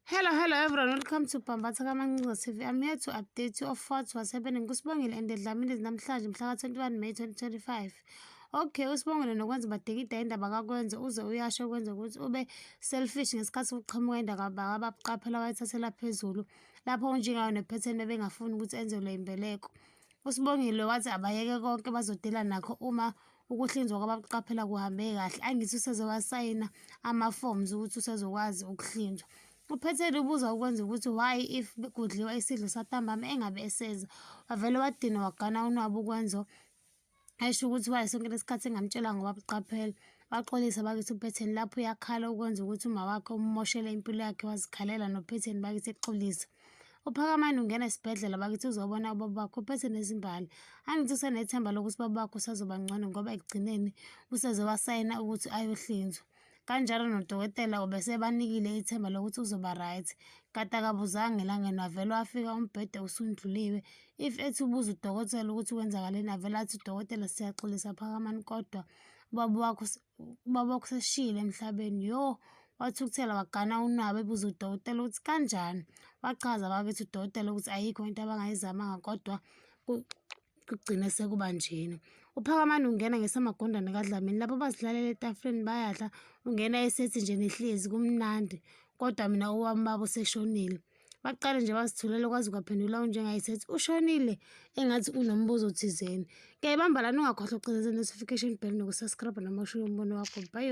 Hello, hello everyone. Welcome to Bhambatha Kamancinza TV. I'm here to update you of what's was happening kuSibongile and Dlamini namhlanje mhla ka-21 May 2025. Okay, uSibongile nokwenza badikida indaba kakwenze uze uyasho kwenze ukuthi ube selfish ngesikhathi ukuqhamuka indaba ababuqaphela wayithathela phezulu lapho unjengayo nephetheni bebengafuni ukuthi enzelwe imbeleko. USibongile wathi abayeke konke bazodela nakho uma ukuhlinzwa kwabakuqaphela kuhambe kahle angithi useze wasayina ama-forms ukuthi usezokwazi ukuhlinzwa uphethele ubuza ukwenza ukuthi why if kudliwa isidlo santambama engabe eseza wavele wadina wagana unwabu ukwenza esho ukuthi waye sonke lesikhathi engamtshela ngoba buqaphela waxolisa bakithi uphetheni lapho uyakhala ukwenza ukuthi umawakhe ummoshele impilo yakhe wazikhalela nophetheni bakithi exolisa uphakamani ungena esibhedlela bakithi uzobona ubaba bakho uphethe nezimbali angithi usenethemba lokuthi ubaba bakho usazoba ngcono ngoba ekugcineni useze wasayina ukuthi ayohlinzwa kanjalo nodokotela ubesebanikile ithemba lokuthi uzoba right kade akabuzanga elangeni wavele wafika umbhede usundluliwe if ethi ubuza udokotela ukuthi kwenzakaleni avele athi udokotela siyaxolisa phakamani kodwa ubaba wakho ubaba wakho seshile emhlabeni yo wathukuthela wagana unwabu ebuza udokotela ukuthi kanjani wachaza bakithi udokotela ukuthi ayikho into abangayizamanga kodwa kugcine sekuba njena uphakamani ungena ngesamagondane kadlamini lapho bazihlalela etafuleni bayadla ungena esethi nje nihlezi kumnandi kodwa mina owami baba useshonile Baqale nje bazithulele kwaze kwaphendula unjengayithi ethi ushonile engathi unombuzo thizeni. Ngiyayibamba lana ungakhohlwa ukucindezela notification bell nokusubscribe noma ushiye umbono wakho. Bye.